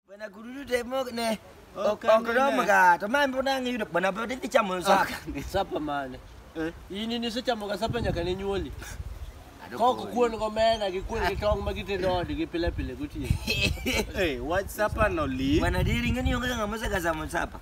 Bana kururu de mo ne. Ok, ok ro ma ga. To ma mbo na ngi yudo bana bo de ti chamo sa. Sapa mane. Eh? Ini ni se chamo ga sapa nyaka ne nyuoli. Koko kuon go mena gi kuon gi tong ma gite dodi gi pile pile guti. Eh, what sapa no li? Bana de ringa ni onga ngamo sa ga samo sapa.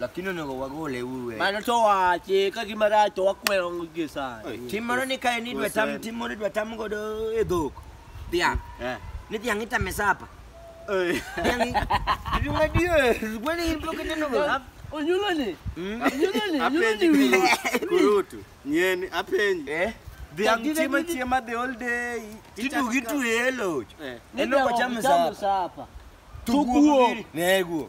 Lakini onego wagole uru e. Mano to wache ka gima rach to wakwero ngo gie sani. Tim moro ni kae ni dwa tam tim moro dwa tam godo e dhok. Dhiang'. Eh. Ni dhiang' itame sapa. Eh. Dhiang' dhiang' adier. Gwani in pok ineno go. Onyulo ni. Hmm? Onyulo ni. Onyulo ni wiye. Kurutu. Nyeni apenji. Eh. Dhiang' chiema chiema the whole day. Tidu gitu e loch. Eh. Eno kwa chama sapa. Tuguo. Neguo.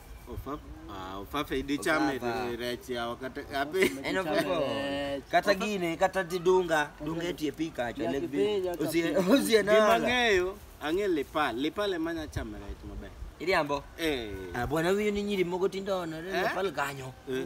Ofa- ah, ofafe idi chame Ofafa. ri- rech ya wakata ape En ofefo. Kata gine, kata ti dunga, dunga e tie pika acho lek bi. Osie, osie na. gima ng'eyo ang'e lipal lipal ema nya chame rech maber Iriambo. eh Ah, bwana huyu ni nyiri mogo tindo na Eh? pale kanyo. eh.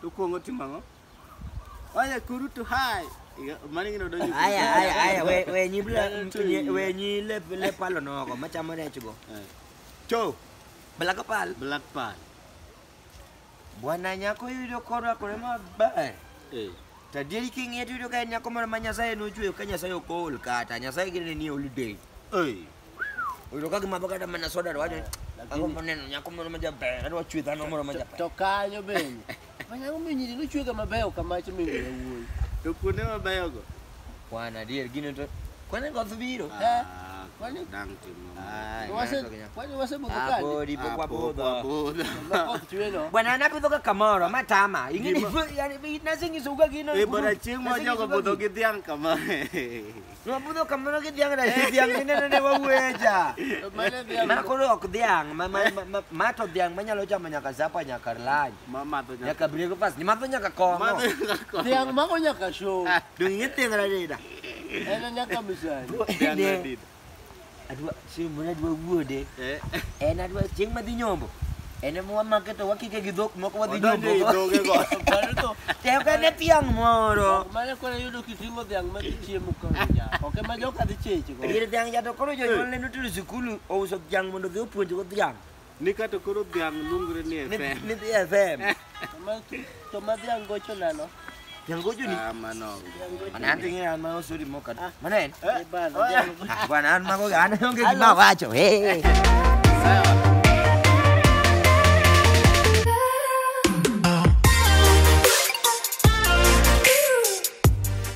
To kuongo timo ang'o? Oye, kurutu hai. Iga- Mani gino donjo. Aya, aya, aya, we, we nyi bla, nyi- we nyi le, le palo nogo, machamo rech go. Eh, Cho, bala ka pal. Black Pearl. Bwana nyako yudo korwakore maber. Eh. To adieri king'iye to yudo ka en nyako moro ma Nyasaye nochweyo ka Nyasaye ok ool kata, Nyasaye gine ni holiday. Oi. Utoka kimadho kata mana soda to wacho ango moneno nyako moro ma jaber kata wachwe dhano moro ma jaber. To kanyo bende. Manya omiyo nyiri nochwega mabeyo kamacho mi ng'eyo wuoyi. To kuonde mabeyogo. Kwan adier gino to kwan e goth biro. Eh. Kwani dang timo. Ai, Wase mano to ginya- kwani wasebudho Ah, kadi. podi pok Ah, wabudho. wabudho. Makoth chweno. Bwana anapidho ka kamoro matama. Ing'eni Gima- yani nasing'iso uga gino. Eh, bwana chieng' ma jogo budho gi dhiang' kama. Nwabudho kamano gi dhiang' na Eh. dhiang' mineno ne wawueja. To mane dhiang' Ma koro ok dhiang', ma ma ma- ma- ma to dhiang' manyalo chamo nyaka zapa nyaka lany. Ma madho nyaka. Nyaka breakfast, ni madho nyaka kong'o. Madho nyaka. Dhiang' mago nyaka show. Dong' ing'e dhiang' radida. En e nyaka misani. Dhiang' Ne. radida. Adwa chieng' moro adwa wuode. Eh. En adwa chieng' madhi nyombo. En ema wamake to wakike gi dhok moko wadhi nyombo. Odonjo e dhoge go. Mano to tek en e tiang' moro. Mano koro yudo kiting'o dhiang' ma chiemo koro ja. Ok ema joka dhi cheche go. Dier dhiang' ja to koro jonyuolne notero sikul ouso dhiang' mondo odhi opuonjgo dhiang'. Ni ka to koro dhiang' luongre ni Ni- FM. ni dhi FM. To ma- To ma dhiang' gocho nano. Dhiang' gocho ni. Ah, mano. Mana an ting'e an ma osuri moka. Mana en? Eh, bana, dhiang' gocho. Ah, Bwana an mago an onge gima awacho. Hey.